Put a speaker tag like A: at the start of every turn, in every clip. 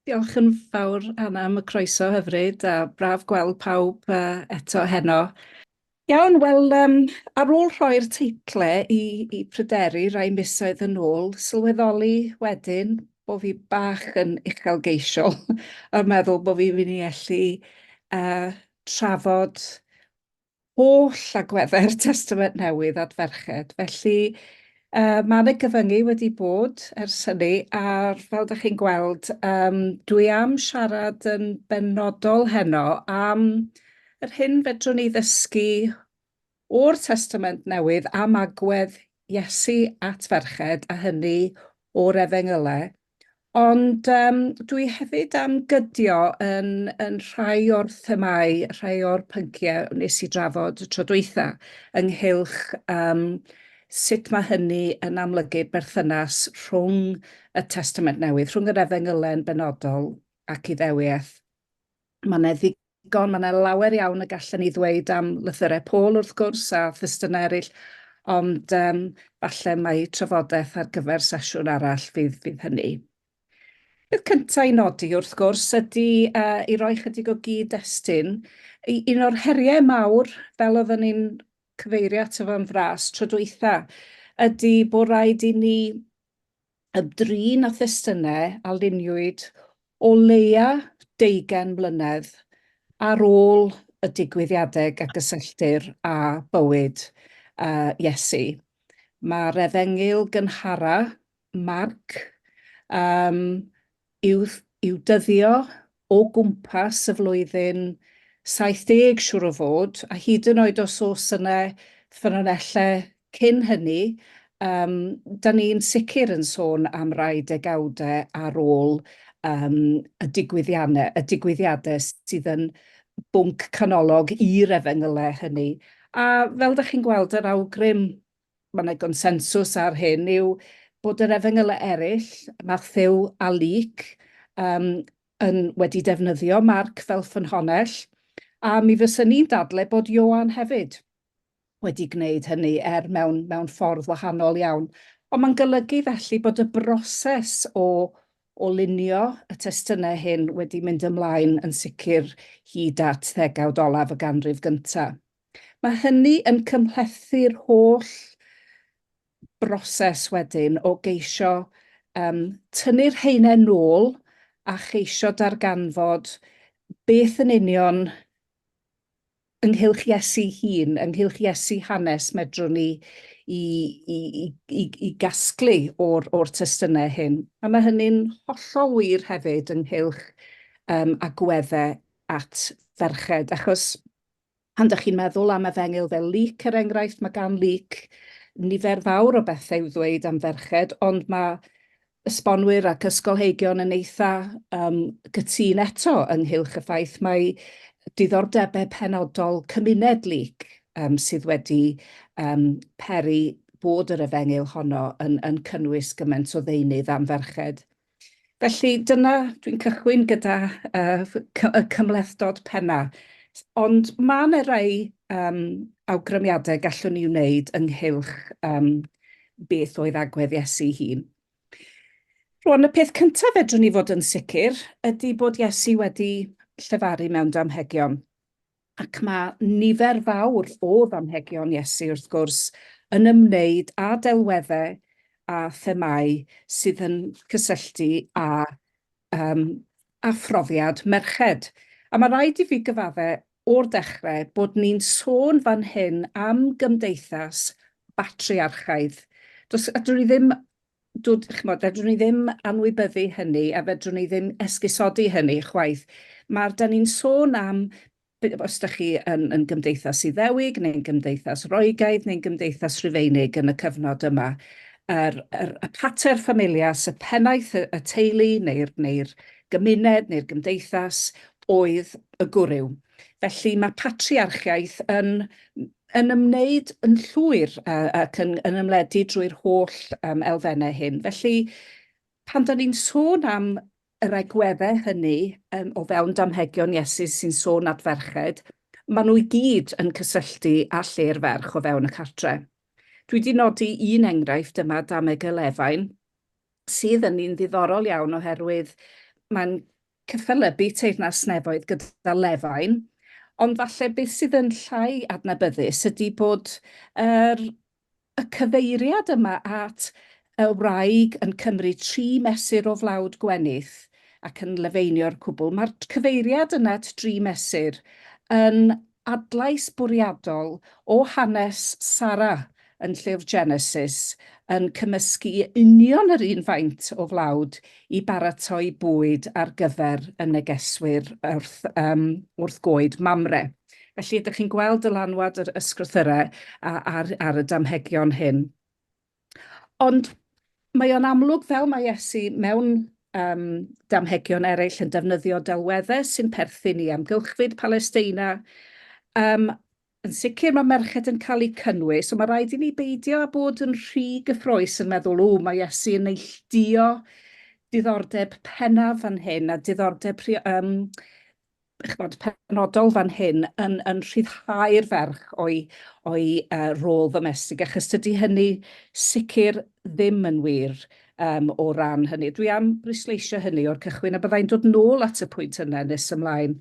A: Diolch yn fawr Anna am y croeso hyfryd a braf gweld pawb eto heno. Iawn, wel yym ar ôl rhoi'r teitle i i Pryderi rai misoedd yn ôl, sylweddoli wedyn bo' fi bach yn uchelgeisiol a meddwl bo' fi myn' i ellu yy trafod holl agwedde'r Testament Newydd at ferched, felly Yy ma' 'na gyfyngu wedi bod ers hynny a fel 'dach chi'n gweld yym dwi am siarad yn benodol heno am yr hyn fedrwn ni ddysgu o'r Testament Newydd am agwedd Iesu at ferched a hynny o'r Efengylau. Ond yym dwi hefyd am gydio yn yn rhai o'r themâu, rhai o'r pynciau wnes i drafod y tro dwytha ynghylch yym sut ma' hynny yn amlygu berthynas rhwng y Testament Newydd, rhwng yr Efengylen benodol ac Iddewiaeth. Ma' 'ne Digon, mae 'na lawer iawn y gallen ni ddweud am lythyrau Paul wrth gwrs a thestunau eraill, ond yym falle mai trafodaeth ar gyfer sesiwn arall fydd fydd hynny. Peth cynta' i nodi wrth gwrs ydi yy i roi chydig o gyd-destun, u- un o'r heriau mawr, fel oedden ni'n cyfeirio ato fo'n fras tro dwytha', ydi bo' raid i ni y drin a thestunau a luniwyd o leia deugain mlynedd ar ôl y digwyddiadeg a gysylltir â bywyd Iesu. Mae'r Efengyl gynhara, Marc, i'w i'w dyddio o gwmpas y flwyddyn 70 siŵr o fod, a hyd yn oed os oes yna ffynonellau cyn hynny, um, da ni'n sicr yn sôn am rai degawdau ar ôl um, y digwyddiannau, y digwyddiadau sydd yn bwnc canolog i'r efengylau hynny. A fel da chi'n gweld yr awgrym mae yna gonsensws ar hyn, yw bod yr efengylau eraill, Mathew a Luc, um, yn wedi defnyddio Marc fel ffynhonnell, a mi fyswn i'n dadle bod Ioan hefyd wedi gwneud hynny, er mewn, mewn ffordd wahanol iawn. Ond mae'n golygu felly bod y broses o o lunio y testunau hyn wedi mynd ymlaen yn sicr hyd at ddegawd olaf y ganrif gyntaf. Mae hynny yn cymhlethu'r holl broses wedyn o geisio yym tynnu'r haenen nôl a cheisio darganfod beth yn union ynghylch Iesu'i hun, ynghylch Iesu hanes medrwn ni i i i i i gasglu o'r o'r testunau hyn. A mae hynny'n hollol wir hefyd ynghylch yym agwedde at ferched achos Pan dych chi'n meddwl am efengyl fel Luc, er enghraifft, mae gan Luc nifer fawr o bethau i'w ddweud am ferched, ond mae esbonwyr ac ysgolheigion yn eitha um, gytun eto ynghylch y ffaith mae diddordebau penodol cymuned Luc um, sydd wedi um, peri bod yr efengyl honno yn, yn cynnwys gymaint o ddeunydd am ferched. Felly, dyna, dwi'n cychwyn gyda y cymhlethdod penna. Ond ma' 'na rai awgrymiadau gallwn ni wneud ynghylch beth oedd agwedd Iesu'i hun. Rŵan, y peth cynta fedrwn ni fod yn sicr ydi bod Iesu wedi llefaru mewn damhegion. Ac mae nifer fawr o ddamhegion Iesu, wrth gwrs, yn ymwneud â delweddau a themâu sydd yn cysylltu â um, a phrofiad merched. A mae rhaid i fi gyfaddau o'r dechrau bod ni'n sôn fan hyn am gymdeithas batriarchaidd. Does, a dwi ddim chimod, fedrwn ni ddim anwybyddu hynny a fedrwn ni ddim esgusodi hynny chwaith. Ma'r... 'dan ni'n sôn am, os dach chi yn yn Gymdeithas Iddewig neu'n Gymdeithas Roegaidd neu'n Gymdeithas Rufeinig yn y cyfnod yma, yr yr y pater familias, y pennaeth y y teulu neu'r neu'r gymuned neu'r gymdeithas oedd y gwryw. Felly ma' patriarchiaeth yn yn ymwneud yn llwyr ac yn ymledu drwy'r holl elfennau hyn. Felly, pan dan ni'n sôn am yr agweddau hynny o fewn damhegion Iesu sy'n sôn at ferched, maen nhw i gyd yn cysylltu â lle'r ferch o fewn y cartre. Dwi wedi nodi un enghraifft yma, dameg y Lefain, sydd yn un ddiddorol iawn oherwydd mae'n Cyfalybu teyrnas nefoedd gyda lefain, ond falle beth sydd yn llai adnabyddus ydy bod yr y cyfeiriad yma at y wraig yn cymryd tri mesur o flawd gwenith ac yn lefeinio'r cwbl. Mae'r cyfeiriad yna at dri mesur yn adlais bwriadol o hanes Sara yn Llyfr Genesis yn cymysgu union yr un faint o flawd i baratoi bwyd ar gyfer y negeswyr wrth yym wrth goed Mamre. Felly, ydych chi'n gweld dylanwad yr ysgrythyrau a- ar ar y damhegion hyn? Ond mae o'n amlwg, fel mae Iesu mewn um, damhegion eraill yn defnyddio delweddau sy'n perthyn i amgylchfyd Palesteina, um, yn sicr mae merched yn cael eu cynnwys, ond mae rhaid i ni beidio â bod yn rhy gyffroes yn meddwl, o, mae Iesu yn neilldio diddordeb pennaf fan hyn a diddordeb um, ch'mod, penodol fan hyn yn yn rhyddhau'r ferch o'i o'i yy rôl ddomestig, achos tydi hynny sicr ddim yn wir um, o ran hynny. Dwi am bwysleisio hynny o'r cychwyn, a byddai'n dod nôl at y pwynt yna nes ymlaen.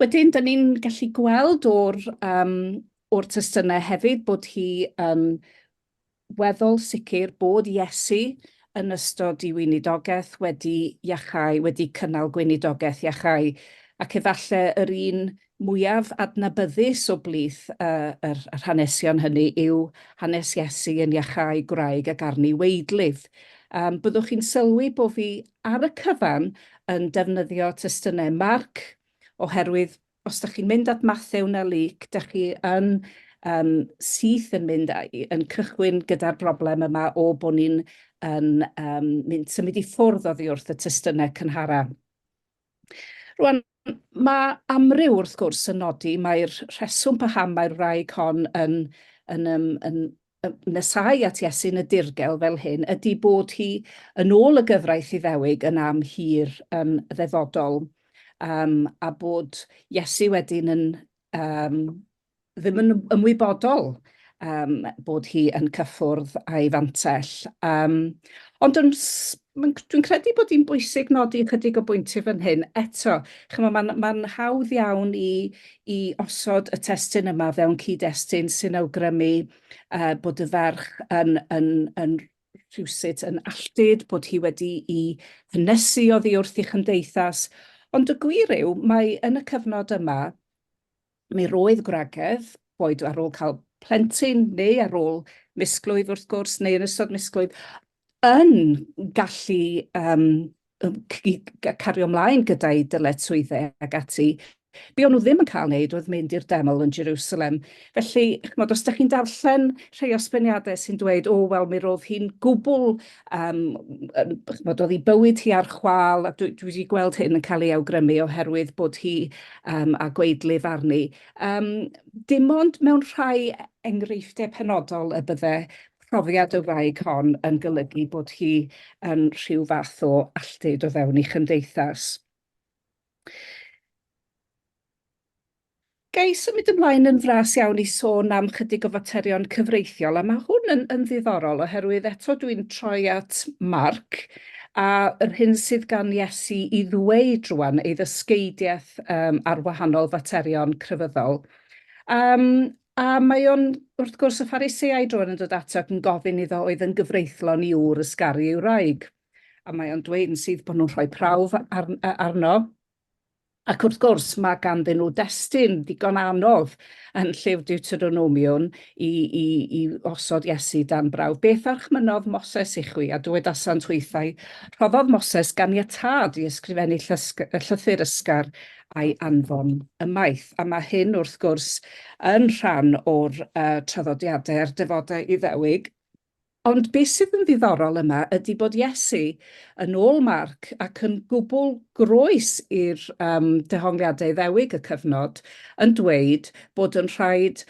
A: Wedyn, dyn ni'n gallu gweld o'r, um, o'r testunau hefyd bod hi yn weddol sicr bod Iesu yn ystod ei weinidogaeth wedi iachau, wedi cynnal gweinidogaeth iachau, ac efallai yr un mwyaf adnabyddus o blith yr hanesion hynny yw hanes Iesu yn iachau gwraig ac arni weidlydd. Byddwch chi'n sylwi bo fi ar y cyfan yn defnyddio testunau Marc, oherwydd os da chi'n mynd at Mathew na Luc, da chi yn um, syth yn mynd a'i, yn cychwyn gyda'r broblem yma o bod ni'n yn um, mynd symud i ffwrdd oddi wrth y testunau cynhara. Rwan, mae amryw wrth gwrs yn nodi, mae'r rheswm paham mae'r wraig hon yn, yn, yn, yn nesáu at Iesu'n y dirgel fel hyn ydi bod hi yn ôl y gyfraith Iddewig yn am hir yn ddefodol, um, a bod Iesu wedyn yn um, ddim yn ymwybodol um, bod hi yn cyffwrdd a'i fantell. Um, ond yn Mae'n... dwi'n credu bod hi'n bwysig nodi ychydig o bwyntiau fan hyn. Eto, chimo, mae'n... mae'n hawdd iawn i... i osod y testun yma fewn cyd-destun sy'n awgrymu yy bod y ferch yn... yn... yn rhywsut yn alltud, bod hi wedi'i hynysu oddi wrth ei chymdeithas, ond y gwir yw, mae yn y cyfnod yma, Mi roedd gwragedd, boed ar ôl cael plentyn neu ar ôl misglwyf wrth gwrs, neu yn ystod misglwyf, yn gallu um, cario ymlaen gyda'i dyletswyddau ac ati. Be o'n nhw ddim yn cael wneud oedd mynd i'r deml yn Jerusalem. Felly, chymod, os ydych chi'n darllen rhai osbyniadau sy'n dweud, o, wel, mi roedd hi'n gwbl Yym, chimod, oedd ei bywyd hi ar chwâl, a dwi wedi gweld hyn yn cael ei awgrymu oherwydd bod hi um, a gweidlydd arni. Um, dim ond mewn rhai enghreifftiau penodol y bydde profiad y wraig hon yn golygu bod hi yn rhyw fath o alltud o fewn ei chymdeithas. Ga i symud ymlaen yn fras iawn i sôn am chydig o faterion cyfreithiol, a mae hwn yn, yn ddiddorol, oherwydd eto dwi'n troi at Marc, a yr hyn sydd gan Iesu i ddweud rwan, ei ddysgeidiaeth um, ar wahanol faterion crefyddol. Um, a mae o'n, wrth gwrs, y Phariseaid rwan yn dod ato ac yn gofyn iddo oedd yn gyfreithlon i wr ysgaru ei wraig. A mae o'n dweud yn sydd bod nhw'n rhoi prawf ar, arno, Ac wrth gwrs, mae ganddyn nhw destun ddigon anodd yn Llyfr Deuteronomion i, i, i osod Iesu dan brawf. Beth archmynodd Moses i chwi? A dywedasant hwythau, rhoddodd Moses ganiatâd i ysgrifennu llysg, llythyr ysgar a'i anfon ymaith. A mae hyn, wrth gwrs, yn rhan o'r uh, traddodiadau a'r defodau Iddewig, Ond be sydd yn ddiddorol yma ydy bod Iesu, yn ôl Marc, ac yn gwbl groes i'r um, dehongliadau Iddewig y cyfnod, yn dweud bod yn rhaid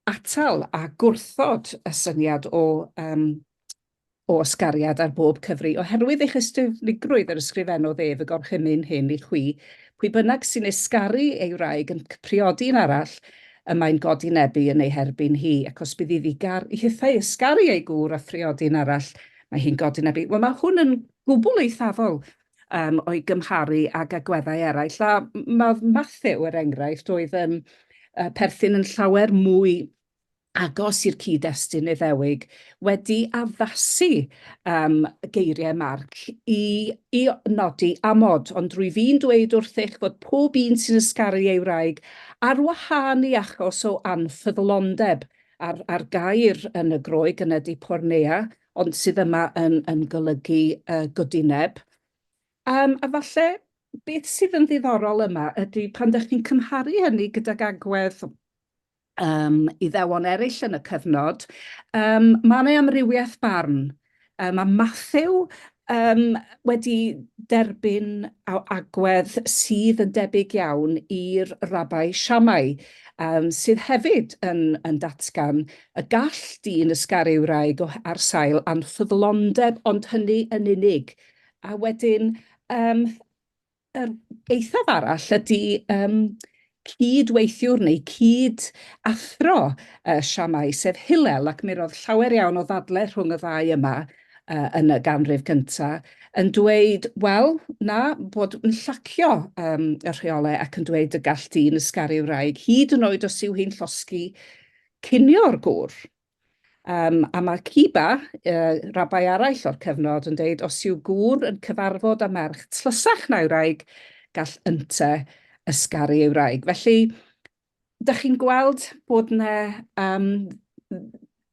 A: atal a gwrthod y syniad o um, o ysgariad ar bob cyfri, oherwydd eich ystyfnigrwydd yr ysgrifennodd ef y gorchymyn hyn i chwi, pwy bynnag sy'n ysgaru ei wraig yn priodi yn arall, y mae'n godinebbu yn ei herbyn hi, ac os bydd iddi gar- i hithau ysgaru ei gŵr a phriodin arall, mae hi'n godinebbu. Wel, mae hwn yn gwbl eithafol um, o'i gymharu ag agweddau eraill, a mae Matthew, er enghraifft, oedd yn uh, perthyn yn llawer mwy agos i'r cyd-destun Iddewig wedi addasu um, geiriau Marc i, i nodi amod, ond rwyf i'n dweud wrthych fod pob un sy'n ysgaru ei wraig ar wahân i achos o anffyddlondeb a'r, ar gair yn y Groeg yn ydy pornea, ond sydd yma yn, yn golygu uh, godineb. Um, a falle beth sydd yn ddiddorol yma ydy pan ydych chi'n cymharu hynny gydag agwedd um, Iddewon eraill yn y cyfnod, um, mae yna amrywiaeth barn. Um, mae Matthew um, wedi derbyn agwedd sydd yn debyg iawn i'r rabai Siamai, um, sydd hefyd yn, yn datgan y gall dyn ysgaru wraig ar sail anffyddlondeb, ond hynny yn unig. A wedyn, um, Yr eithaf arall ydy um, cyd-weithiwr neu cyd-athro uh, Siamau, sef Hillel, ac mi roedd llawer iawn o ddadle rhwng y ddau yma uh, yn y ganrif gyntaf, yn dweud, wel, na, bod yn llacio um, y rheolau ac yn dweud y gall dyn ysgaru wraig, hyd yn oed os yw hi'n llosgi cinio'r gŵr. A mae Ciba, rabai arall o'r cyfnod, yn dweud, os yw gŵr yn cyfarfod â merch tlysach na'i wraig, gall ynte ysgaru ei wraig. Felly, dych chi'n gweld bod yna...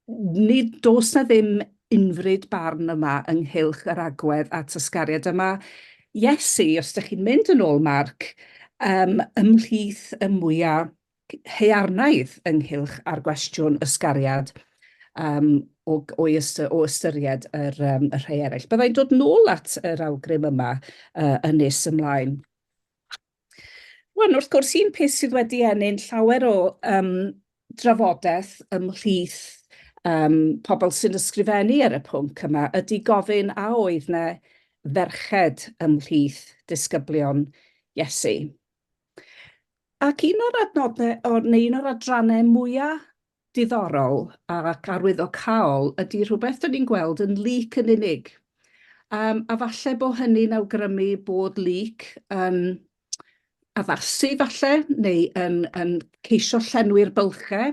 A: nid does yna ddim unfryd barn yma ynghylch yr agwedd at ysgariad. A mae Iesu, os dych chi'n mynd yn ôl Marc, ymhlith y mwyaf haearnaidd ynghylch â'r gwestiwn ysgariad um, o, o, ystyr, o ystyried yr, um, y rhai eraill. Byddai'n dod nôl at yr awgrym yma uh, yn nes ymlaen. Wan, wrth gwrs, un peth sydd wedi ennill llawer o um, drafodaeth ymhlith um, pobl sy'n ysgrifennu ar y pwnc yma ydy gofyn a oedd na ferched ymhlith disgyblion Iesu. Ac un o'r adnodde o neu un o'r adranne mwya diddorol ac arwyddocaol ydi rhywbeth dyn ni'n gweld yn Luc yn unig. Yym a falle bo hynny'n awgrymu bod Luc yn addasu falle neu yn yn ceisio llenwi'r bylche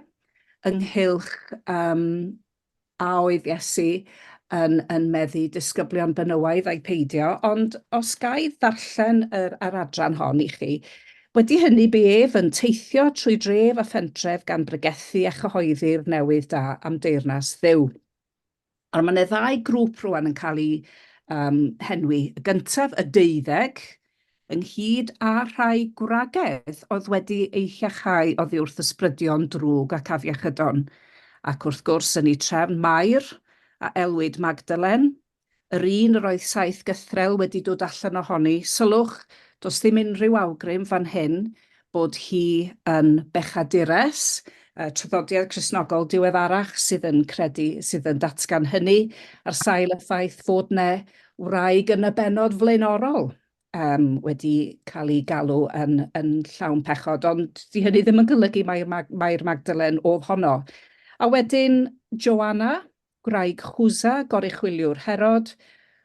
A: ynghylch yym a oedd Iesu yn, yn meddu disgyblion benywaidd ai peidio, ond os ga i ddarllen yr, yr adran hon i chi, Wedi hynny bu ef yn teithio trwy dref a phentref gan bregethu a chyhoeddi'r newydd da am deyrnas Dduw. Ond mae yna ddau grŵp rwan yn cael eu um, henwi. Y gyntaf, y deuddeg, ynghyd â rhai gwragedd oedd wedi eu llechau oddi wrth ysbrydion drwg ac afiechydon, ac wrth gwrs yn eu trefn Mair, a elwid Magdalen, yr un yr oedd saith gythrel wedi dod allan ohoni, sylwch, does ddim unrhyw awgrym fan hyn bod hi yn bechadures, y traddodiad Cristnogol diweddarach sydd yn credu, sydd yn datgan hynny, ar sail y ffaith fod 'na wraig yn y bennod flaenorol. um, wedi cael ei galw yn, yn llawn pechod, ond di hynny ddim yn golygu mae'r Mag mae Magdalen oedd honno. A wedyn Joanna, gwraig Chwsa, goruchwyliwr Herod,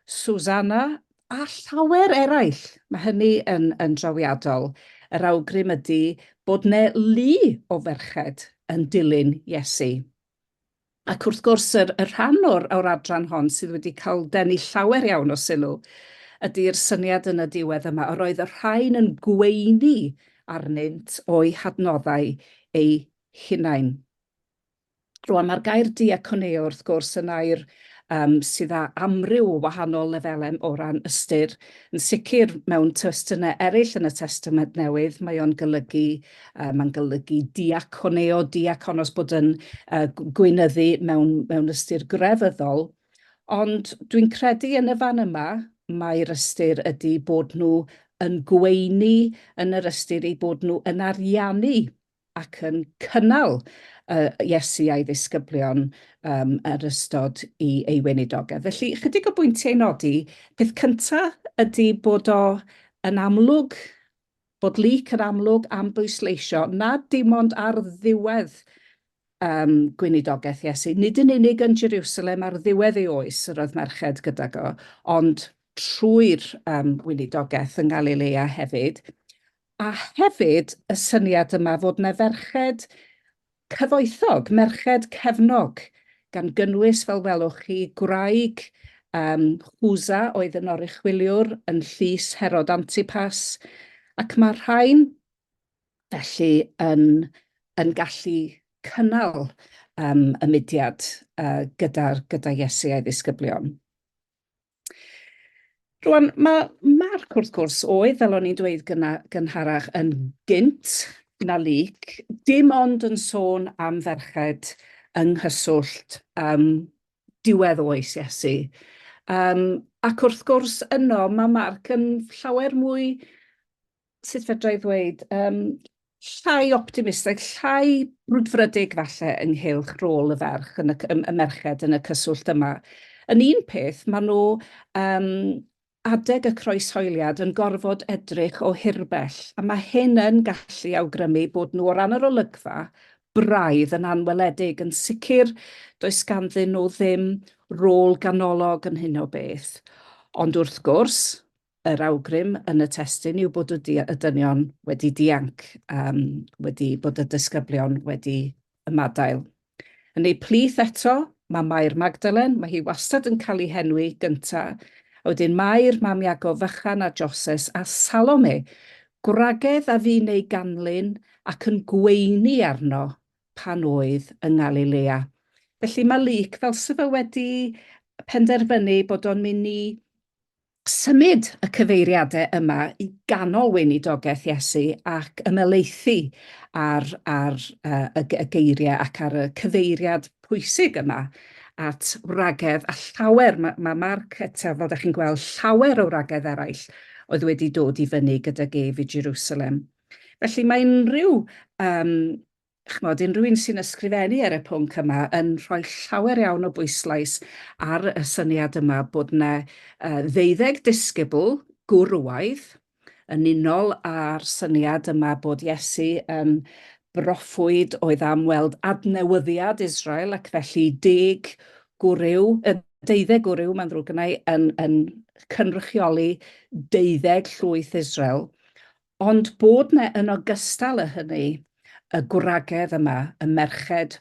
A: Susanna, a llawer eraill. Mae hynny yn, yn drawiadol. Yr awgrym ydy bod ne lu o ferched yn dilyn Iesu. Ac wrth gwrs, y rhan o'r adran hon sydd wedi cael denu llawer iawn o sylw ydy'r syniad yn y diwedd yma, yr oedd y rhain yn gweini arnynt o'u hadnoddau eu hunain. Rwan, mae'r gair diakoneo, wrth gwrs, yn air sydd â amryw o wahanol lefelau o ran ystyr. Yn sicr, mewn testunau eraill yn y Testament Newydd, mae o'n golygu Yy mae'n golygu diaconeo, diakonos, bod yn yy gweinyddu mewn mewn ystyr grefyddol. Ond dwi'n credu yn y fan yma mae'r ystyr ydy bod nhw yn gweini yn yr ystyr eu bod nhw yn ariannu ac yn cynnal yy Iesu a'i ddisgyblion yym yr ystod i ei weinidogedd. Felly, ychydig o bwyntiau i nodi. Peth cynta ydy bod o yn amlwg bod leak yn amlwg am bwysleisio nad dim ond ar ddiwedd um, gweinidogaeth Iesu, nid yn unig yn Jerusalem ar ddiwedd ei oes yr oedd merched gydag o, ond trwy'r um, gweinidogaeth yng Ngalilea hefyd, a hefyd y syniad yma fod na ferched Cyfoethog, merched cefnog, gan gynnwys, fel welwch chi, gwraig um, Chuza oedd yn oruchwyliwr yn llys Herod Antipas, ac mae rhain felly yn, yn gallu cynnal um, y mudiad uh, gyda'r gyda Iesu a'i ddisgyblion. Rwan, mae Mark, wrth gwrs, oedd, fel o'n i'n dweud gyna, gynharach, yn gynt na lyc, dim ond yn sôn am ferched yng nghyswllt um, diwedd oes Iesu. Um, ac wrth gwrs yno mae Mark yn llawer mwy sut fedra i ddweud, um, llai optimistaidd, llai brwdfrydig falle ynghylch rôl y ferch yn y, y merched yn y cyswllt yma. Yn un peth, maen nhw um, adeg y croeshoeliad yn gorfod edrych o hirbell, a mae hyn yn gallu awgrymu bod nhw o ran yr olygfa braidd yn anweledig. Yn sicr, does ganddyn nhw ddim rôl ganolog yn hyn o beth. Ond wrth gwrs, Yr awgrym yn y testun yw bod y dynion wedi dianc, wedi bod y disgyblion wedi ymadael. Yn ei plith eto, mae Mair Magdalen, mae hi wastad yn cael ei henwi gynta, a wedyn Mair, mam Iago fychan a Joses, a Salome, gwragedd a fu'n ei ganlyn ac yn gweini arno pan oedd yng Ngalilea. Felly mae Luc fel 'se fe wedi penderfynu bod o'n mynd i Symud y cyfeiriadau yma i ganol weinidogaeth Iesu ac ymhelaethu ar, ar uh, y, y geiriau ac ar y cyfeiriad pwysig yma at wragedd a llawer, mae ma Marc eto, fel da chi'n gweld, llawer o wragedd eraill oedd wedi dod i fyny gydag ef i Jerusalem. Felly mae unrhyw um, Chimod, unrhyw un sy'n ysgrifennu ar y pwnc yma yn rhoi llawer iawn o bwyslais ar y syniad yma bod yna uh, ddeuddeg disgybl gwrwaidd yn unol â'r syniad yma bod Iesu yn broffwyd oedd am weld adnewyddiad Israel ac felly deg gwryw, y deuddeg gwryw, mae'n ddrwg yna, yn, yn cynrychioli deuddeg llwyth Israel. Ond bod 'na yn ogystal â hynny y gwragedd yma, y merched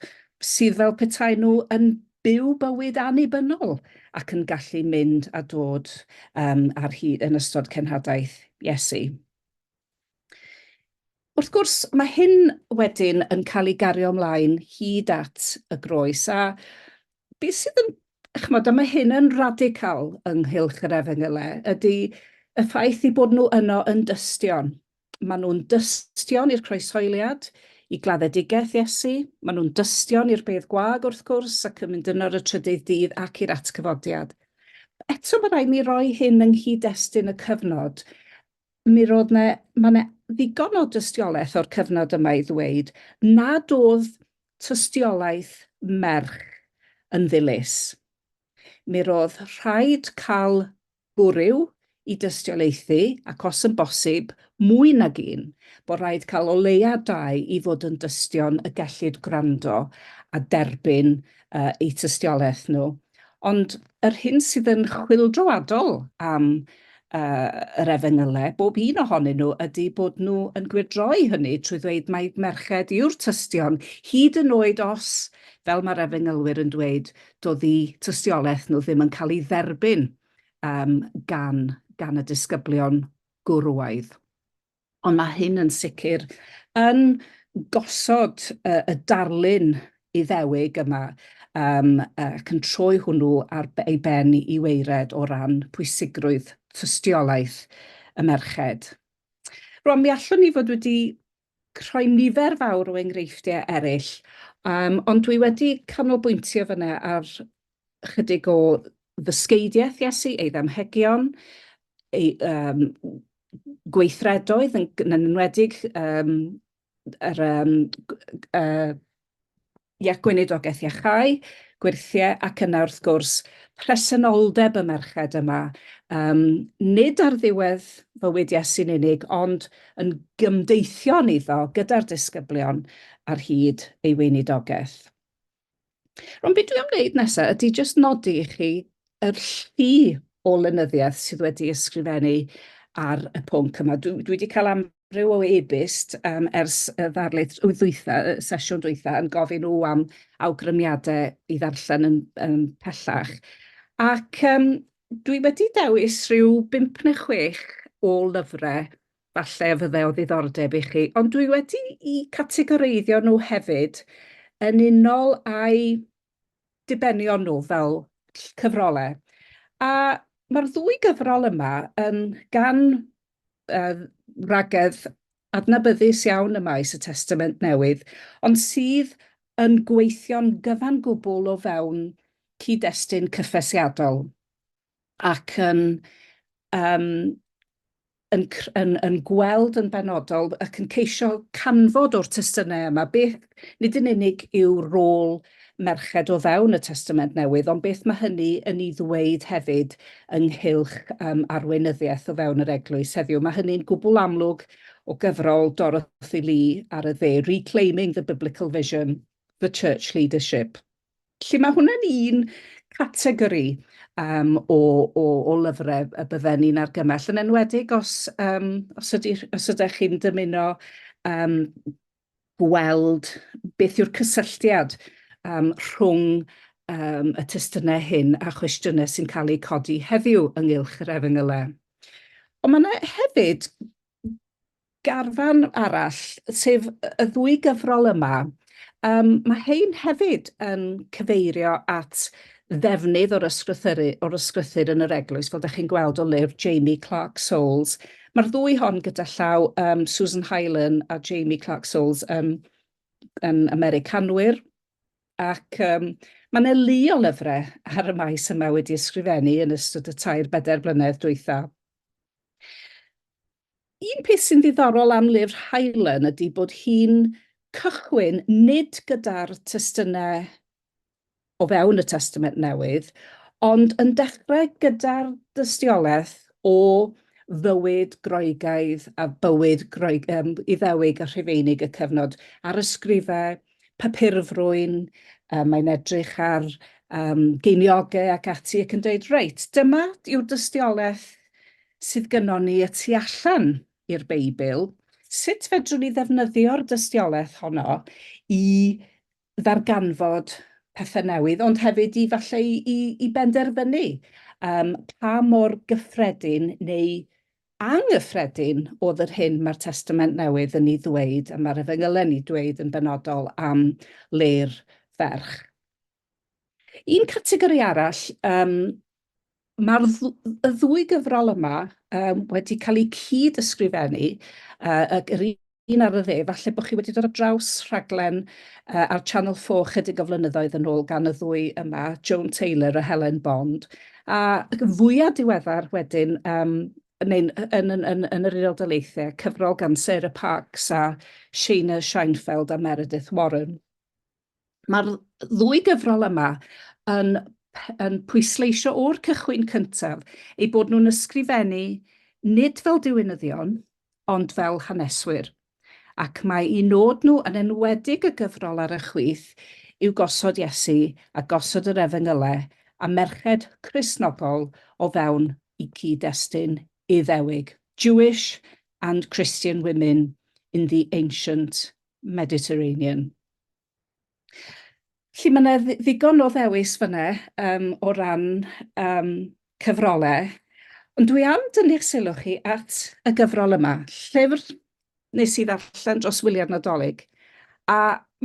A: sydd fel petai nhw yn byw bywyd annibynnol ac yn gallu mynd a dod um, ar hyd yn ystod cenhadaeth Iesu. Wrth gwrs, mae hyn wedyn yn cael ei gario ymlaen hyd at y groes, a be sydd yn, chymod, a mae hyn yn radical ynghylch yr efengylau, ydy y ffaith i bod nhw yno yn dystion. Maen nhw'n dystion i'r croeshoeliad, i gladdedigaeth Iesu, maen nhw'n dystion i'r bedd gwag wrth gwrs ac yn mynd yno ar y trydydd dydd ac i'r atgyfodiad. Eto mae rhaid ni roi hyn yng nghyd-destun y cyfnod. mi roedd yna, mae yna ddigon o dystiolaeth o'r cyfnod yma i ddweud nad oedd tystiolaeth merch yn ddilys. Mi roedd rhaid cael gwryw i dystiolaethu, ac os yn bosib, mwy nag un, bod rhaid cael o leia dau i fod yn dystion y gellid gwrando a derbyn eu tystiolaeth nhw. Ond yr hyn sydd yn chwyldroadol am yr Efengylau, bob un ohonyn nhw, ydy bod nhw yn gwyrdroi hynny trwy ddweud mai merched yw'r tystion, hyd yn oed os, fel mae'r Efengylwyr yn dweud, doedd eu tystiolaeth nhw ddim yn cael ei dderbyn gan y disgyblion gwrywaidd. Ond mae hyn yn sicr yn gosod y darlun Iddewig yma ac yn troi hwnnw ar ei ben i waered o ran pwysigrwydd tystiolaeth y merched. Rwan, mi allwn ni fod wedi rhoi nifer fawr o enghreifftiau eraill, ond dwi wedi canolbwyntio fan'na ar ychydig o ddysgeidiaeth Iesu, ei ddamhegion, ei um, gweithredoedd, yn, yn enwedig um, yr um, uh, ia, gweinidogaeth iachau, gwirthiau ac yna wrth gwrs presenoldeb y merched yma, um, nid ar ddiwedd fywyd Iesu'n unig, ond yn gymdeithion iddo gyda'r disgyblion ar hyd ei weinidogaeth. Rwan, beth dwi am wneud nesaf ydy jyst nodi i chi yr llu o lenyddiaeth sydd wedi ysgrifennu ar y pwnc yma. Dwi, dwi wedi cael amryw o e-byst um, ers y ddarlith ddwytha, y sesiwn dwytha, yn gofyn nhw am awgrymiadau i ddarllen yn, yn pellach. Ac um, dwi wedi dewis rhyw 5 neu 6 o lyfrau falle y fydde o ddiddordeb i chi, ond dwi wedi i categoreiddio nhw hefyd yn unol â'i dibenion nhw fel cyfrolau. A mae'r ddwy gyfrol yma yn gan uh, ragedd adnabyddus iawn y maes y Testament Newydd, ond sydd yn gweithio'n gyfan gwbl o fewn cyd-destun cyffesiadol. ac yn yym yn yn yn gweld yn benodol ac yn ceisio canfod o'r testunau yma beth nid yn unig yw rôl merched o fewn y Testament Newydd, ond beth mae hynny yn ei ddweud hefyd ynghylch um, arweinyddiaeth o fewn yr eglwys heddiw. Mae hynny'n gwbl amlwg o gyfrol Dorothy Lee ar y dde, Reclaiming the Biblical Vision, the Church Leadership. Felly mae hwnna'n un categori um, o, o, o lyfrau y bydden ni'n argymell, yn enwedig os, um, os, ydy, os ydych chi'n dymuno um, gweld beth yw'r cysylltiad um, rhwng um, y testunau hyn a chwestiynau sy'n cael eu codi heddiw ynghylch yr efengylau. Ond mae yna hefyd garfan arall, sef y ddwy gyfrol yma, um, mae hein hefyd yn cyfeirio at ddefnydd o'r ysgrythyru, o'r ysgrythyr yn yr eglwys, fel ydych chi'n gweld o lyfr Jamie Clark Souls. Mae'r ddwy hon gyda llaw um, Susan Hylan a Jamie Clark Souls yn, yn Americanwyr, ac um, mae yna lu o lyfrau ar y maes yma wedi ysgrifennu yn ystod y tair bedair blynedd dwytha. Un peth sy'n ddiddorol am lyfr Helen ydy bod hi'n cychwyn nid gyda'r testunau o fewn y Testament Newydd, ond yn dechrau gyda'r dystiolaeth o fywyd Groegaidd a bywyd Groeg- yym Iddewig a Rhufeinig y cyfnod, a'r ysgrifau papurfrwyn, yy mae'n edrych ar yym geiniogau ac ati ac yn deud, reit, dyma yw'r dystiolaeth sydd gynnon ni y tu allan i'r Beibl, sut fedrwn ni ddefnyddio'r dystiolaeth honno i ddarganfod pethau newydd, ond hefyd i falle i, i, i benderfynu um, pa mor gyffredin neu anghyffredin oedd yr hyn mae'r Testament Newydd yn ei ddweud a mae'r efengylen i dweud yn benodol am le'r ferch. Un categori arall, yym, ma'r dd- y ddwy gyfrol yma um, wedi cael eu cyd-ysgrifennu, uh, ac yr un ar y dde, falle bod chi wedi dod ar draws rhaglen uh, ar Channel 4 chydig o flynyddoedd yn ôl gan y ddwy yma, Joan Taylor a Helen Bond, a fwyaf diweddar wedyn, um, neu'n yn, yn, yn, yn yr Unol Daleithiau, cyfrol gan Sarah Parks a Shayna Scheinfeld a Meredith Warren. Mae'r ddwy gyfrol yma yn yn pwysleisio o'r cychwyn cyntaf ei bod nhw'n ysgrifennu nid fel diwinyddion, ond fel haneswyr, ac mae i nod nhw yn enwedig y gyfrol ar y chwith yw gosod Iesu a gosod yr Efengylau a merched Cristnogol o fewn i gyd-destun Iddewig, Jewish and Christian women in the ancient Mediterranean. Felly mae 'na ddigon o ddewis fyna yym o ran yym cyfrole, ond dwi am dynnu'ch sylw chi at y gyfrol yma, llyfr nes i ddarllen dros wyliau'r Nadolig, a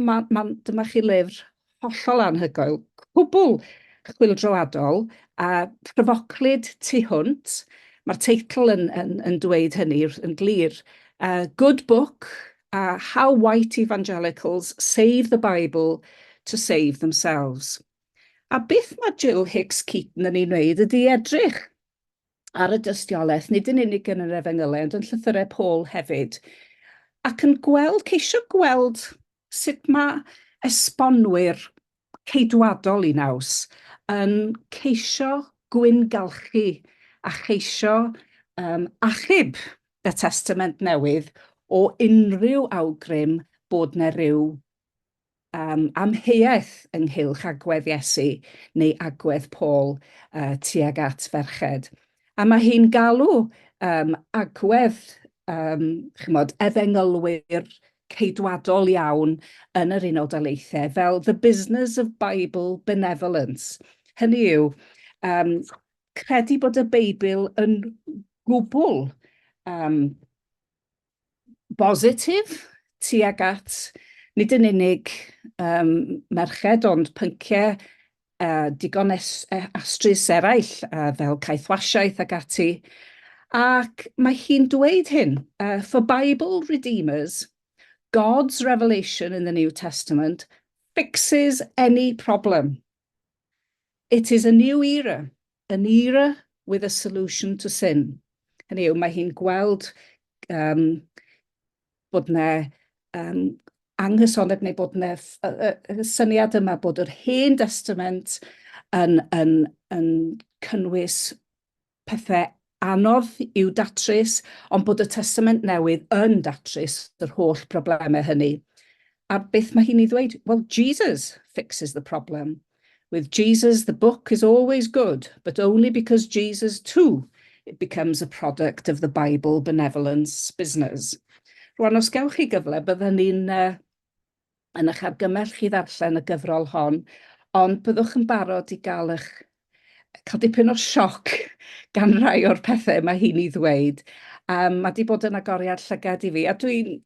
A: ma' ma'n dyma chi lyfr hollol anhygoel, cwbl chwyldroadol a phryfoclyd tu hwnt, ma'r teitl yn yn yn dweud hynny yn glir, yy Good Book, a How White Evangelicals Save the Bible to Save Themselves. A beth mae Jill Hicks Keaton yn ei wneud ydy edrych ar y dystiolaeth, nid yn unig yn yr efengylau, ond yn llythyrau Paul hefyd, ac yn gweld, ceisio gweld sut mae esbonwyr Ceidwadol i naws, yn ceisio gwyngalchu a cheisio um, achub y Testament Newydd o unrhyw awgrym bod na ryw um, amheuaeth ynghylch agwedd Iesu neu agwedd Paul uh, tuag at ferched. A mae hi'n galw um, agwedd um, chymod, efengylwyr ceidwadol iawn yn yr Unol Daleithiau fel The Business of Bible Benevolence. Hynny yw, um, credu bod y Beibl yn gwbl um, bositif tuag at nid yn unig um, merched ond pynciau a digon es, e, astrus eraill, a fel caethwasiaeth ac ati, ac mae hi'n dweud hyn, uh, for Bible redeemers, God's revelation in the New Testament fixes any problem. It is a new era, an era with a solution to sin. Hynny yw, mae hi'n gweld um, bod yna um, anghysonedd neu bod yna y syniad yma bod yr hen destament yn, yn, yn cynnwys pethau anodd i'w datrys, ond bod y testament newydd yn datrys yr holl broblemau hynny. A beth mae hi'n ei ddweud? Well, Jesus fixes the problem. With Jesus, the book is always good, but only because Jesus too it becomes a product of the Bible benevolence business. Rwan, os gewch chi gyfle, byddwn ni'n uh, yn eich argymell chi ddarllen y gyfrol hon, ond byddwch yn barod i gael eich cael dipyn o sioc gan rai o'r pethau mae hi'n ei ddweud. Um, mae wedi bod yn agoriad llygad i fi, a dwi'n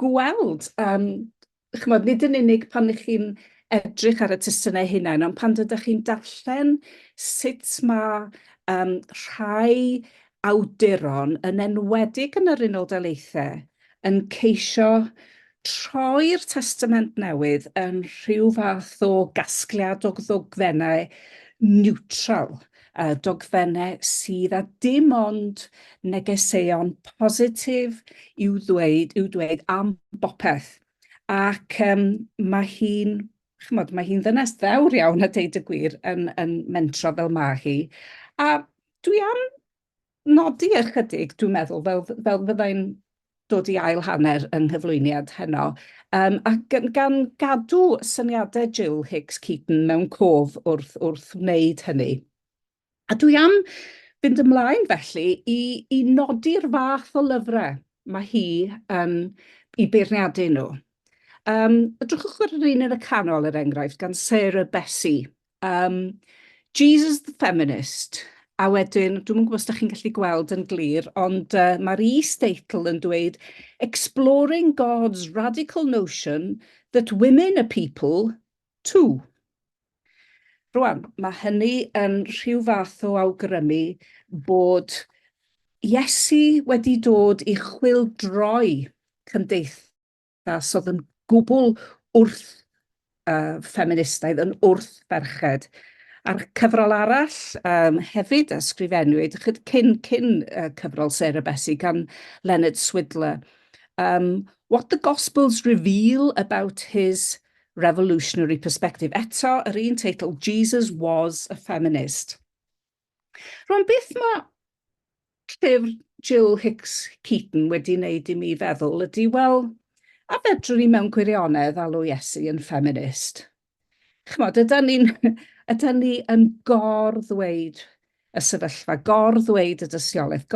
A: gweld, yym, chimod, nid yn unig pan ych chi'n edrych ar y testunau eu hunain, ond pan dydych chi'n darllen sut mae um, rhai awduron, yn enwedig yn yr Unol Daleithiau, yn ceisio troi'r testament newydd yn rhyw fath o gasgliad o ddogfennau niwtral. a dogfennau sydd â dim ond negeseuon positif i'w ddweud, i'w dweud am bopeth. Ac um, mae hi'n chymod, mae hi'n ddynes ddewr iawn a deud y gwir yn, yn mentro fel mae hi. A dwi am nodi ychydig, dwi'n meddwl, fel, fel fyddai'n dod i ail hanner yng nghyflwyniad heno, um, a gan, gan gadw syniadau Jill Hicks Keaton mewn cof wrth, wrth wneud hynny. A dwi am fynd ymlaen felly i, i nodi'r fath o lyfrau mae hi yn i beirniadu nhw. Um, drwchwch ar yr un yn y canol, er enghraifft, gan Sarah Bessie, Um, Jesus the Feminist. A wedyn, dwi'n mwyn gwybod os da chi'n gallu gweld yn glir, ond uh, mae'r e-statel yn dweud Exploring God's Radical Notion that Women are People too. Rwan, mae hynny yn rhyw fath o awgrymu bod Iesu wedi dod i chwildroi cymdeithas Ras oedd yn gwbl wrth uh, ffeministaidd, yn wrth ferched. A'r cyfrol arall um, hefyd a sgrifennwyd cyn, cyn uh, cyfrol Sarah Bessie gan Leonard Swidler. Um, what the Gospels reveal about his revolutionary perspective. Eto, yr un teitl, Jesus was a feminist. Rwan beth mae llyfr Jill Hicks Keaton wedi wneud i mi feddwl ydy, wel, a fedrwn ni mewn gwirionedd alw Iesu yn ffeminist? Chymod, ydy ni'n ydy ni yn gor-ddweud y sefyllfa, gor-ddweud y dystiolaeth,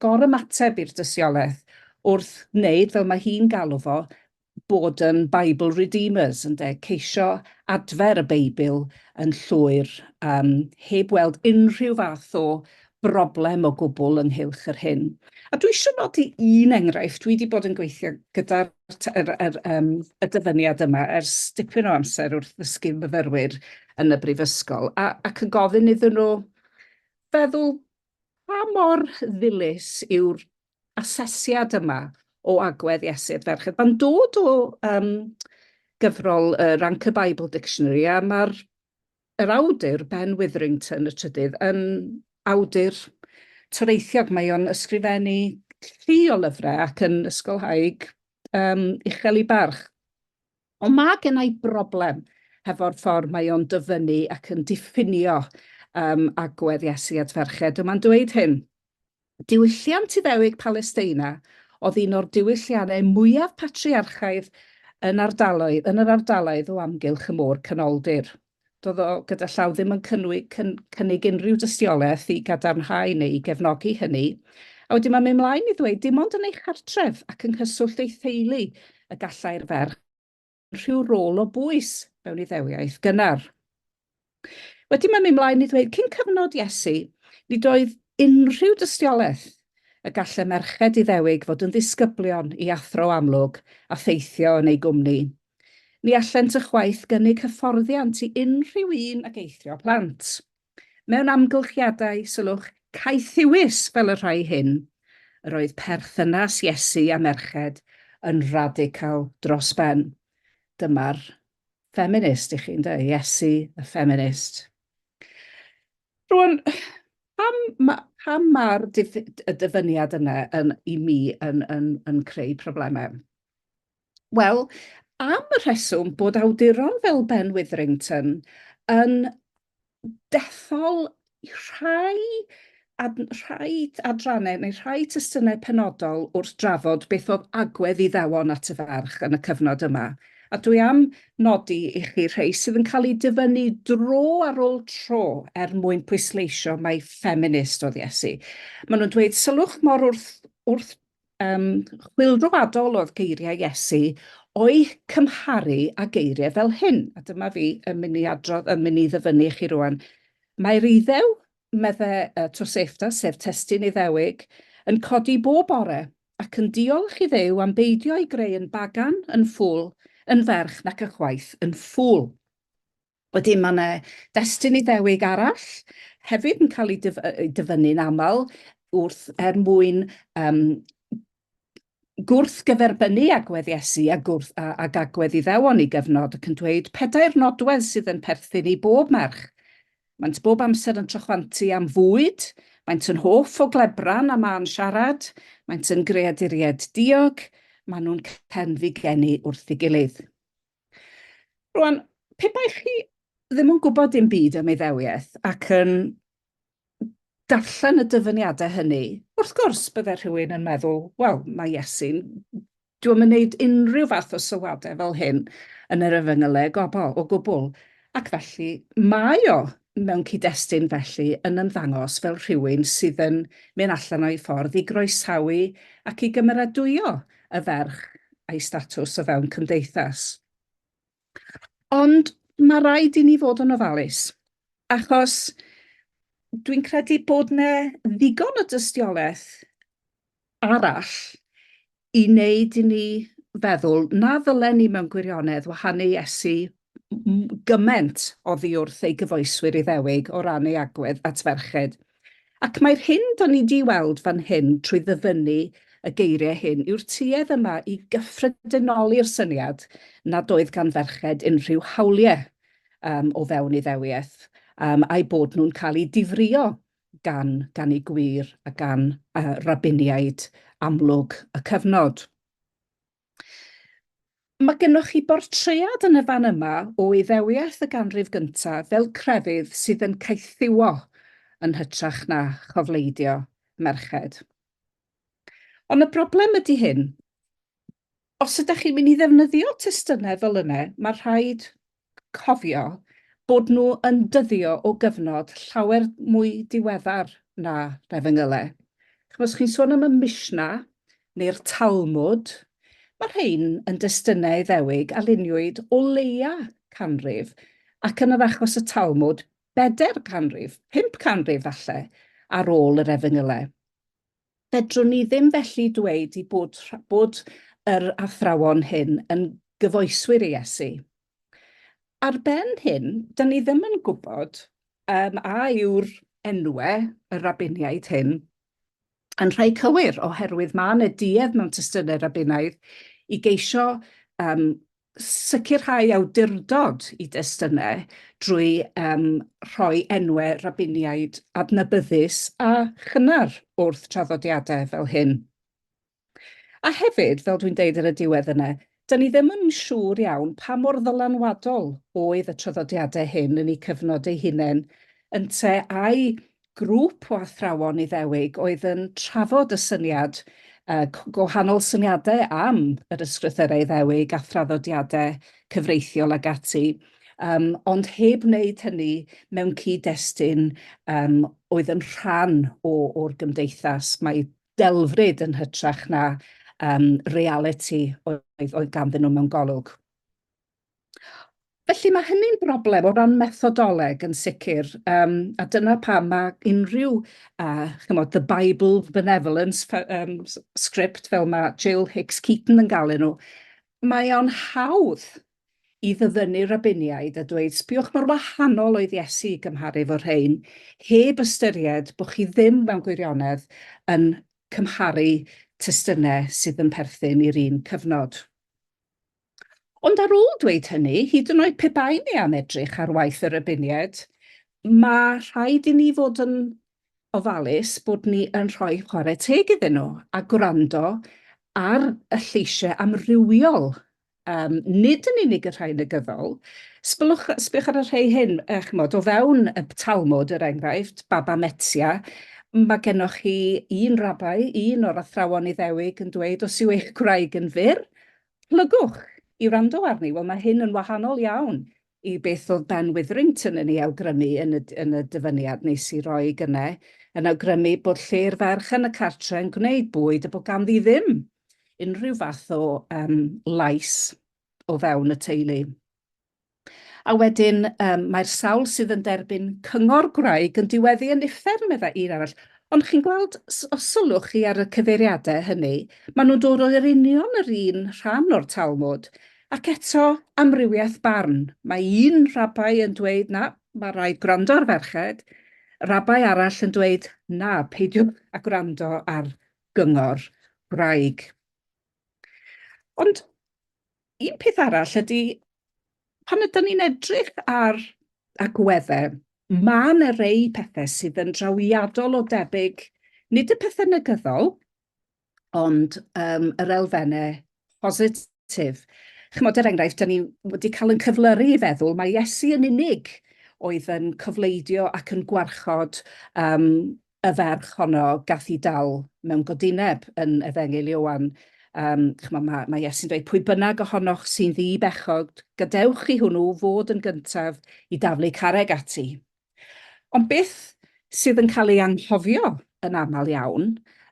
A: gor-ymateb i'r dystiolaeth wrth wneud, fel mae hi'n galw fo, bod yn Bible Redeemers, ynde, ceisio adfer y Beibl yn llwyr, um, heb weld unrhyw fath o broblem o gwbl ynghylch yr hyn. A dwi eisiau nodi un enghraifft, dwi wedi bod yn gweithio gyda'r er, er, um, y dyfyniad yma ers dipyn o amser wrth ddysgu myfyrwyr yn y brifysgol, a, ac yn gofyn iddyn nhw feddwl pa mor ddilys yw'r asesiad yma o agwedd iesu'r ferched. Mae'n dod o um, gyfrol uh, Rank y Bible Dictionary a mae'r yr awdur Ben Witherington y trydydd yn awdur toreithiog. Mae o'n ysgrifennu llu o lyfrau ac yn ysgolhaig um, uchel i barch. Ond mae gennau broblem hefo'r ffordd mae o'n dyfynnu ac yn diffinio um, agwedd Iesu at ferched. Yma'n dweud hyn, Diwylliant Iddewig Palesteina oedd un o'r diwylliannau mwyaf patriarchaidd yn ardaloedd yn yr ardaloedd o amgylch y Môr Canoldir. Doedd o gyda llaw ddim yn cynnig unrhyw dystiolaeth i gadarnhau neu i gefnogi hynny. A wedyn mae'n mynd mlaen i ddweud, dim ond yn ei chartref ac yng nghyswllt ei theulu y gallai'r ferch rhyw rôl o bwys mewn Iddewiaeth gynnar. Wedyn mae'n mynd mlaen i ddweud, cyn cyfnod Iesu, nid oedd unrhyw dystiolaeth y gallai merched Iddewig fod yn ddisgyblion i athro amlwg a theithio yn eu gwmni. Ni allent ychwaith gynnig hyfforddiant i unrhyw un ag eithrio plant. Mewn amgylchiadau, sylwch, caethiwus fel y rhai hyn, yr oedd perthynas Iesu â merched yn radical dros ben. Dyma'r ffeminist i chi, ynde? Iesu y ffeminist. Rwan, pam, ma, pam mae'r dyfyniad yna yn, i mi yn, yn, yn creu problemau? Wel, am y rheswm bod awduron fel Ben Witherington yn dethol rhai, ad, rhai adrannau neu rhai testunau penodol wrth drafod beth oedd agwedd Iddewon at y ferch yn y cyfnod yma. A dwi am nodi i chi rhai sydd yn cael eu dyfynnu dro ar ôl tro er mwyn pwysleisio mai ffeminist oedd Iesu. Maen nhw'n dweud, sylwch mor wrth, wrth Um, chwilfroadol oedd geiriau Iesu o'i cymharu a geiriau fel hyn. A dyma fi yn mynd i adrodd, yn mynd i ddyfynnu i chi rwan. Mae'r iddew, medde uh, Tosefta, sef testyn iddewig, yn codi bob bore ac yn diolch i ddew am beidio ei greu yn bagan, yn ffwl, yn ferch nac ychwaith yn ffwl. Wedyn mae yna destun Iddewig arall hefyd yn cael ei dyfynnu'n aml wrth er mwyn yym gwrthgyferbynnu agwedd Iesu a gwrth a, ag agwedd Iddewon i gyfnod ac yn dweud pedair nodwedd sydd yn perthyn i bob merch. Maent bob amser yn trochfantu am fwyd, maent yn hoff o glebran a mân siarad, maent yn greaduriaid diog, maen nhw'n cenfigennu wrth ei gilydd. Rwan, pe bai chi ddim yn gwybod dim byd am Iddewiaeth ac yn darllen y dyfyniadau hynny, wrth gwrs bydde rhywun yn meddwl, wel, mae Iesu'n dyw e'm yn wneud unrhyw fath o sylwadau fel hyn yn yr Efengylau o gobl, o gwbl, ac felly mae o mewn cyd-destun felly yn ymddangos fel rhywun sydd yn mynd allan o'i ffordd i groesawu ac i gymeradwyo y ferch a'i statws o fewn cymdeithas. Ond mae rhaid i ni fod yn ofalus, achos dwi'n credu bod yna ddigon o dystiolaeth arall i wneud i ni feddwl na ddylen ni mewn gwirionedd wahanu Iesu gymaint oddi wrth ei gyfoeswyr Iddewig o ran ei agwedd at ferched. Ac mae'r hyn da ni 'di weld fan hyn trwy ddyfynnu y geiriau hyn yw'r tuedd yma i gyffredinoli'r syniad nad oedd gan ferched unrhyw hawliau um, o fewn Iddewiaeth um, a'i bod nhw'n cael eu difrio gan, gan ei gwir a gan uh, rabiniaid amlwg y cyfnod. Mae gennych chi bortread yn y fan yma o Iddewiaeth y ganrif gyntaf fel crefydd sydd yn caethiwo yn hytrach na chofleidio merched. Ond y broblem ydy hyn, os ydych chi'n mynd i ddefnyddio testunau fel yna, mae rhaid cofio bod nhw yn dyddio o gyfnod llawer mwy diweddar na Nefengyle. Chimod, os chi'n sôn am y Mishnah neu'r Talmud, mae rhain yn destunau Iddewig a luniwyd o leia canrif, ac yn yr achos y Talmud, bedair canrif, pump canrif falle, ar ôl yr Efengyle. Fedrwn ni ddim felly dweud i bod, bod yr athrawon hyn yn gyfoeswyr i Iesu. Ar ben hyn, da ni ddim yn gwybod um, a yw'r enwe y rabiniaid hyn yn rhai cywir, oherwydd mae yna duedd mewn testynau rabinaidd i geisio um, Sicrhau awdurdod i destunau drwy um, rhoi enwau rabiniaid adnabyddus a chynnar wrth traddodiadau fel hyn. A hefyd, fel dwi'n deud ar y diwedd yna, da ni ddim yn siŵr iawn pa mor ddylanwadol oedd y traddodiadau hyn yn eu cyfnod eu hunain, ynte ai grŵp o athrawon Iddewig oedd yn trafod y syniad, gwahanol syniadau am yr ysgrythyrau Iddewig a thraddodiadau cyfreithiol ac ati, ond heb wneud hynny mewn cyd-destun oedd yn rhan o'r gymdeithas. Mae delfryd yn hytrach na realiti oedd ganddyn nhw mewn golwg. Felly mae hynny'n broblem o ran methodoleg yn sicr, um, a dyna pam mae unrhyw, uh, chymod, the Bible benevolence um, script fel mae Jill Hicks Keaton yn gael nhw, mae o'n hawdd i ddyfynnu rabiniaid a dweud, sbiwch mor wahanol oedd Iesu i gymharu fo rhain, heb ystyried bod chi ddim mewn gwirionedd yn cymharu testynau sydd yn perthyn i'r un cyfnod. Ond ar ôl dweud hynny, hyd yn oed pe baen ni am edrych ar waith yr Ybunied, mae rhaid i ni fod yn ofalus bod ni yn rhoi chwarae teg iddyn nhw a gwrando ar y lleisiau amrywiol, um, nid yn unig y rhai negyddol. Sbylwch, sbych ar y rhai hyn, uh, chymod, o fewn y Talmud, er enghraifft, Baba Metzia, mae gennych chi un rabai, un o'r athrawon Iddewig yn dweud, os yw eich gwraig yn fyr, Plygwch! i wrando arni. Wel, mae hyn yn wahanol iawn i beth oedd Ben Witherington yn ei awgrymu yn y, yn y dyfyniad nes i roi gynne, yn awgrymu bod lle'r ferch yn y cartre yn gwneud bwyd a bod ganddi ddim unrhyw fath o um, lais o fewn y teulu. A wedyn, um, mae'r sawl sydd yn derbyn cyngor gwraig yn diweddu yn uffern, meddai un arall. Ond chi'n gweld, os sylwch chi ar y cyfeiriadau hynny, maen nhw'n dod o'r union yr un rhan o'r Talmud. Ac eto, amrywiaeth barn. Mae un rabai yn dweud, na, mae rhaid gwrando ar ferched, rabai arall yn dweud, na, peidiwch a gwrando ar gyngor gwraig. Ond Un peth arall ydy, pan ydyn ni'n edrych ar agweddau, mae yna rei pethau sydd yn drawiadol o debyg, nid y pethau negyddol, ond um, yr elfennau positif. Chymod, er enghraifft, da ni wedi cael yn cyflyru i feddwl, mae Iesu yn unig oedd yn cofleidio ac yn gwarchod um, y ferch honno gath i dal mewn godineb yn Efengyl Ioan. Um, chymod, mae, mae Iesu'n dweud, pwy bynnag ohonoch sy'n ddi bechod, gadewch i hwnnw fod yn gyntaf i daflu carreg ati. Ond beth sydd yn cael ei anghofio yn aml iawn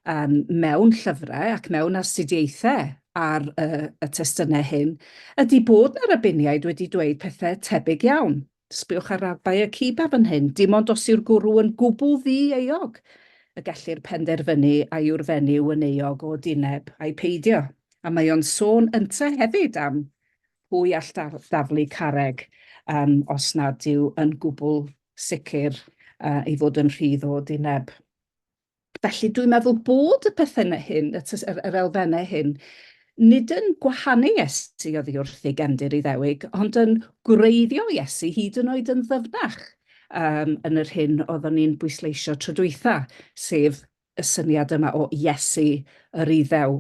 A: um, mewn llyfrau ac mewn astudiaethau ar y, y testunau hyn, ydy bod na rabiniaid wedi dweud pethau tebyg iawn. Sbïwch ar raddau y Ciba fan hyn, dim ond os yw'r gwrw yn gwbl ddi-euog y gellir penderfynu a yw'r fenyw yn euog o dyneb ai peidio. A mae o'n sôn ynte hefyd am pwy all daflu carreg yym os nad yw yn gwbl sicr yy ei fod yn rhydd o dyneb. Felly, dwi'n meddwl bod y perthennau hyn, y tys- yr, yr elfennau hyn, nid yn gwahanu Iesu oddi wrth ei gefndir Iddewig, ond yn gwreiddio Iesu hyd yn oed yn ddyfnach um, yn yr hyn oeddwn ni'n bwysleisio tro dwytha, sef y syniad yma o Iesu yr Iddew.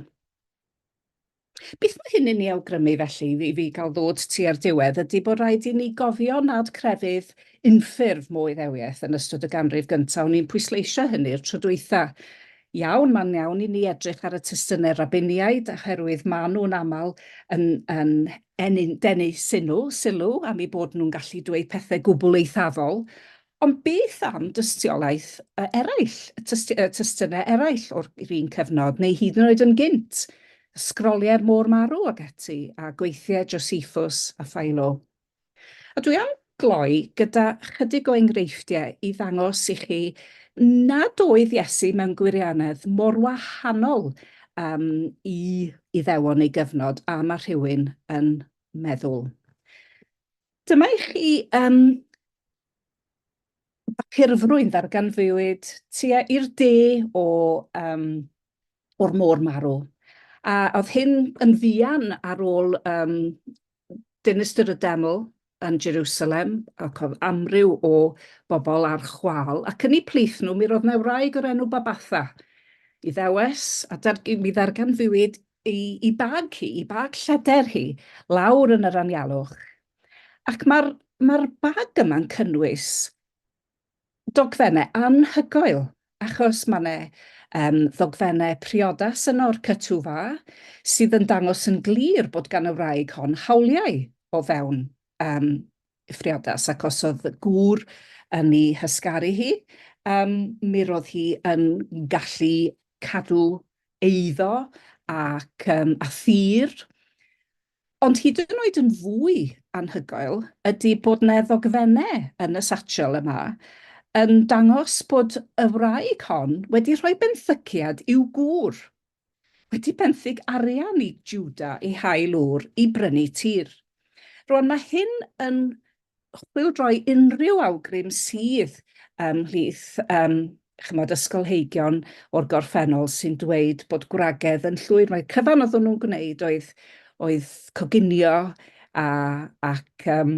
A: Beth mae hyn yn ei awgrymu felly, i fi gael ddod tua'r diwedd, ydy bod rhaid i ni gofio nad crefydd unffurf mo Iddewiaeth yn ystod y ganrif gyntaf, o'n i'n pwysleisio hynny'r tro dwytha. Iawn, mae'n iawn i ni edrych ar y testunau Rabiniaid, oherwydd maen nhw'n aml yn, yn, yn denu sylw, sylw am eu bod nhw'n gallu dweud pethau gwbl eithafol, Ond beth am dystiolaeth eraill, testunau eraill o'r un cyfnod, neu hyd yn oed yn gynt, Ysgroliau'r Môr Marw ac ati, a gweithiau Josephus a Philo? A dwi am gloi gyda chydig o enghreifftiau i ddangos i chi nad oedd Iesu mewn gwirianedd mor wahanol um, i Iddewon ei gyfnod a mae rhywun yn meddwl. Dyma i chi um, bapurfrwyn ddarganfuwyd tua i'r de o, um, o'r môr marw. A oedd hyn yn ddian ar ôl um, dinistr y deml yn Jerusalem, ac oedd amryw o bobl ar chwal, ac yn ei plith nhw, mi roedd na wraig o'r enw Babatha, i ddewes, a dar, mi ddarganfuwyd i, i bag hi, i bag lleder hi, lawr yn yr anialwch. Ac mae'r ma bag yma'n cynnwys dogfennau anhygoel, achos mae yna um, ddogfennau priodas yno o'r cytwfa, sydd yn dangos yn glir bod gan y wraig hon hawliau o fewn um, priodas ac os oedd gŵr yn ei hysgaru hi, um, mi roedd hi yn gallu cadw eiddo ac um, a thir. Ond hyd yn oed yn fwy anhygoel ydy bod yna ddogfennau yn y satchel yma yn dangos bod y wraig hon wedi rhoi benthyciad i'w gŵr Wedi benthyg arian i Juda i hail Ŵr i brynu tir. Rwan mae hyn yn chwildroi unrhyw awgrym sydd ymhlith um, chymod, ysgolheigion o'r gorffennol sy'n dweud bod gwragedd yn llwyr. Mae cyfan oeddwn nhw'n gwneud oedd, oedd coginio a, ac um,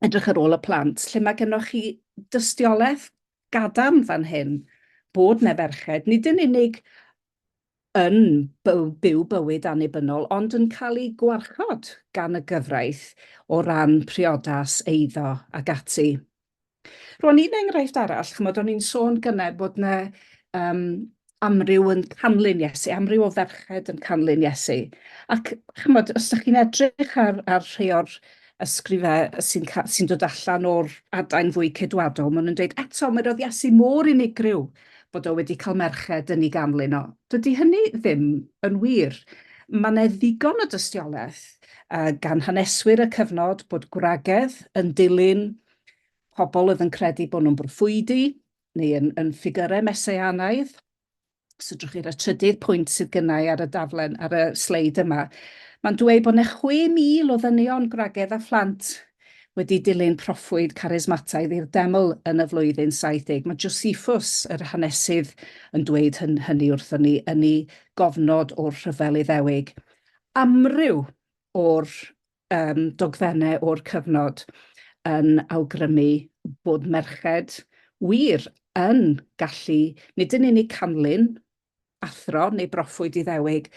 A: edrych ar ôl y plant, lle mae gennych chi dystiolaeth gadarn fan hyn bod 'na ferched, nid yn unig yn byw, byw bywyd annibynnol, ond yn cael eu gwarchod gan y gyfraith o ran priodas, eiddo ac ati. Rwan un enghraifft arall, chymod, o'n i'n sôn gynnau bod yna um, amryw yn canlyn Iesu, amryw o ferched yn canlyn Iesu. Ac chymod, os ydych chi'n edrych ar, ar rhai o'r ysgrifau sy'n sy dod allan o'r adain fwy cedwadol, maen nhw'n dweud eto, mae roedd Iesu mor unigryw bod o wedi cael merched yn ei ganlyn o. Dydy hynny ddim yn wir. Mae yna ddigon o dystiolaeth uh, gan haneswyr y cyfnod bod gwragedd yn dilyn pobl oedd yn credu bod nhw'n broffwydi, neu yn, yn ffigyrau meseanaidd, os ydwch chi ar y trydydd pwynt sydd gynnau ar y daflen, ar y sleid yma, mae'n dweud bod yna 6,000 o ddynion gwragedd a phlant wedi dilyn proffwyd carismataidd i'r deml yn y flwyddyn 70. Mae Josephus, yr hanesydd, yn dweud hyn, hynny wrthon ni yn ei gofnod o'r rhyfel Iddewig. Amryw o'r um, dogfennau o'r cyfnod yn awgrymu bod merched wir yn gallu nid yn unig canlyn, athro neu broffwyd iddewig,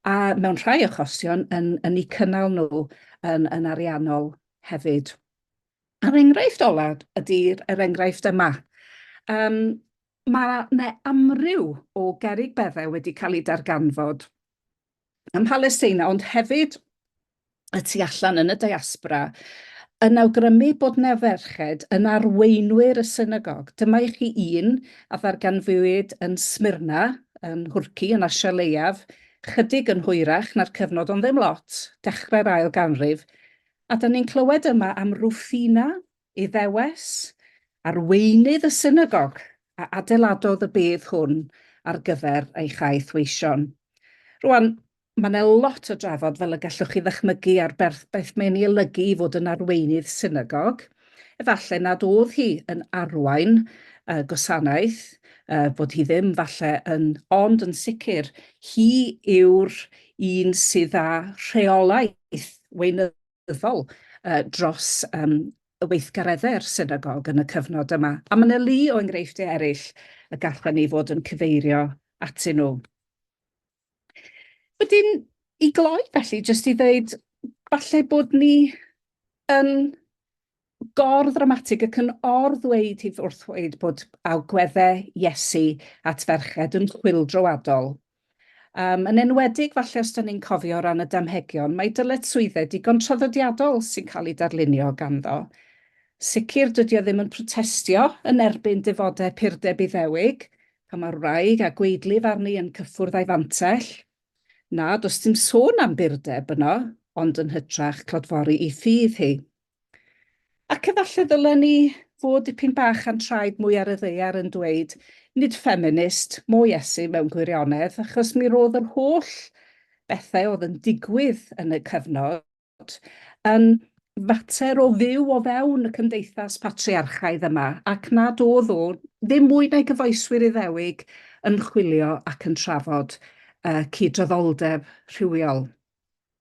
A: a mewn rhai achosion yn, yn eu cynnal nhw yn, yn ariannol hefyd. A'r enghraifft olaf ydy'r er enghraifft yma. Um, mae yna amryw o gerig beddau wedi cael eu darganfod ym Mhalesteina, ond hefyd y tu allan yn y diaspora, yn awgrymu bod 'na ferched yn arweinwyr y synagog. Dyma i chi un a ddarganfuwyd yn Smyrna, yn Nhwrci, yn Asia leiaf, chydig yn hwyrach na'r cyfnod ond ddim lot, dechrau'r ail ganrif, a 'dan ni'n clywed yma am Rufina, Iddewes, arweinydd y synagog a adeiladodd y bedd hwn ar gyfer ei chaeth weision. Rwan, mae yna lot o drafod, fel y gallwch chi ddychmygu, ar berth beth mae'n ei olygu i fod yn arweinydd synagog. Efallai nad oedd hi yn arwain uh, gwasanaeth, uh, bod hi ddim falle yn, ond yn sicr, hi yw'r un sydd â rheolaeth weinyddol Arlywyddol dros y weithgareddau'r Synagog yn y cyfnod yma, a mae 'na lu o enghreifftiau eraill y gallwn ni fod yn cyfeirio atyn nhw. Wedyn, i gloi felly, jyst i ddeud, falle bod ni yn gor-ddramatig ac yn or-ddweud hi wrth ddweud bod agwedde Iesu at ferched yn chwyldroadol. Um, yn enwedig, falle os da ni'n cofio o ran y damhegion, mae dyletswyddau digon traddodiadol sy'n cael ei darlunio ganddo. Sicr, dydy o ddim yn protestio yn erbyn defodau purdeb iddewig, pan mae'r wraig a gweidlif arni yn cyffwrdd a'i fantell. Na, does dim sôn am burdeb yno, ond yn hytrach clodfori i ffydd hi. Ac efallai ddylen ni fod dipyn bach a'n traed mwy ar y ddaear yn dweud, nid ffeminist, mo Iesu mewn gwirionedd, achos mi roedd yr holl bethau oedd yn digwydd yn y cyfnod yn fater o fyw o fewn y cymdeithas patriarchaidd yma, ac nad oedd o ddim mwy na'i gyfoeswyr Iddewig yn chwilio ac yn trafod uh, cydraddoldeb rhywiol.